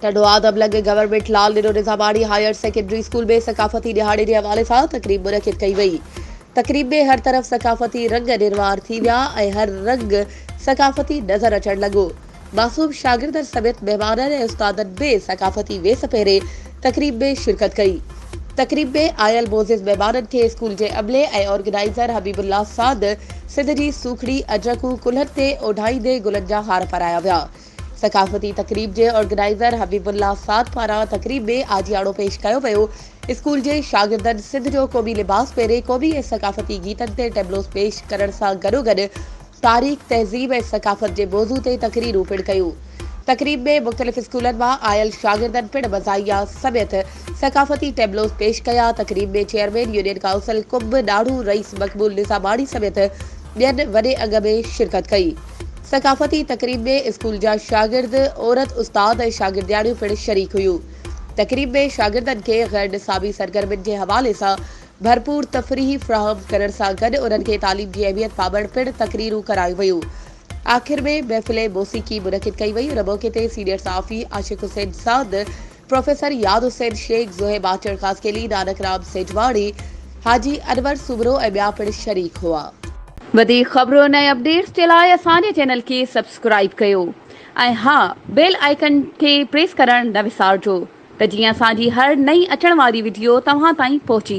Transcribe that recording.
ٽنڊوالهه دبلنگ government Lal Nero Nizamani higher secondary school ۾ ثقافتي ڏهاڙي جي حوالي سان تقريب منعقد ڪئي وئي تقريب ۾ هر طرف ثقافتي رنگ نروار ٿي ويا ۽ هر رنگ ثقافتي نظر اچڻ لڳو معصوم شاگردن سميت مهمانن ۽ استادن به ثقافتي ويس پهري تقريب ۾ شرڪت ڪئي. تقريب ۾ آيل معزز مهمانن کي اسڪول جي عملي ۽ آرگنائيزر حبيب الله ساند سنڌ جي سوکڙي اجرڪون ڪلهن تي اوڍائيندي گلن جا هار پارايا ويا. ثقافتي تقريب جي آرگنائيزر حبيب الله ساند پاران تقريب ۾ آجياڻو پيش ڪيو ويو. اسڪول جي شاگردن سنڌ جو قومي لباس پهري قومي ۽ ثقافتي گيتن تي ٽيبلوز پيش ڪرڻ سان گڏوگڏ تاريخ، تهذيب ۽ ثقافت جي موضوع تي تقريرون پڻ ڪيون. تقريب ۾ مختلف اسڪولن مان آيل شاگردن پڻ مزاحيه سميت ثقافتي ٽيبلوز پيش ڪيا. تقريب ۾ چيئرمين يونين ڪائونسل قم ڏاڙهون رئيس مقبول نظاماڻي سميت ٻين وڏي انگ ۾ شرڪت ڪئي. ثقافتي تقريب ۾ اسڪول جا شاگرد، عورت استاد ۽ شاگردياڻيون پڻ شريڪ هيون. تقريب ۾ شاگردن کي غير نصابي سرگرمين جي حوالي سان ڀرپور تفريح فراهم ڪرڻ سان گڏ انهن کي تعليم جي اهميت بابت پڻ تقريرون ڪرايون ويون. آخر ۾ محفل موسيقي منعقد ڪئي وئي، ان موقعي تي سينيئر صحافي عاشق حسين ساند، پروفيسر ياد حسين شيخ، زوهي ماچڙ خاصخيلي، نانڪ رام سيجواڻي، حاجي انور سومرو ۽ ٻيا پڻ شريڪ هئا. وڌيڪ خبرن ۽ اپڊيٽس جي لاء اسان جي چينل کي سبسڪرائيب ڪيو ۽ ها بيل آئيڪن کي پريس ڪرڻ نه وسارجو ته جيئن اسان جي هر نئين اچڻ واري وڊيو توهان تائين پهچي